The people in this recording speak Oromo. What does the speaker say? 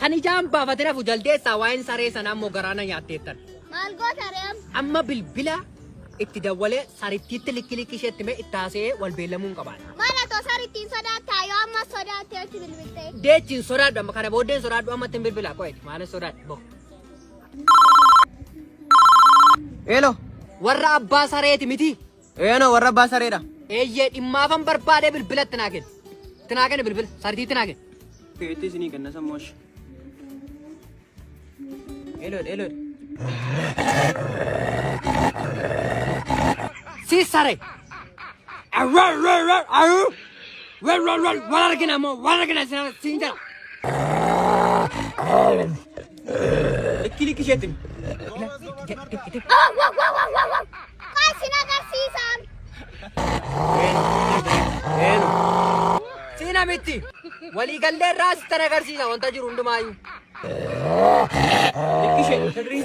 Kan ijaan baafatin hafu jaldeessaa waa'een saree sanaa immoo garaa na nyaatteettan. Maal goota ree amma? Amma bilbila itti dawwalee sarittiitti likki likki isheetti mee itti haasa'ee wal beellamuu hin qabaadha. Maal osoo sarittiin sodaattaa yoo amma sodaattee itti bilbiltee? Deechi hin sodaadhu amma kana booddee hin sodaadhu amma itti hin bilbilaa qo'eeti maal hin sodaadhu boo. Eelo warra abbaa sareeti miti Eeno warra abbaa sareedha. Eeyyee dhimmaafan barbaadee bilbila itti naa kenni. Itti naa kenni bilbila. Sartii itti naa kenni. Keetti isinii kenna sammoosh. Elood elood. Si sare. Awwal wal wal awu. Wal wal wal wal argina moo wal argina isin siin jala. Likki likki isheetti. Awwal wal wal wal wal. Kaa isin agarsiisaam. Eenu. Siina mitti. Waliigallee irraa sittan agarsiisa wanta jiru hundumaayyuu. Ishee sirrii.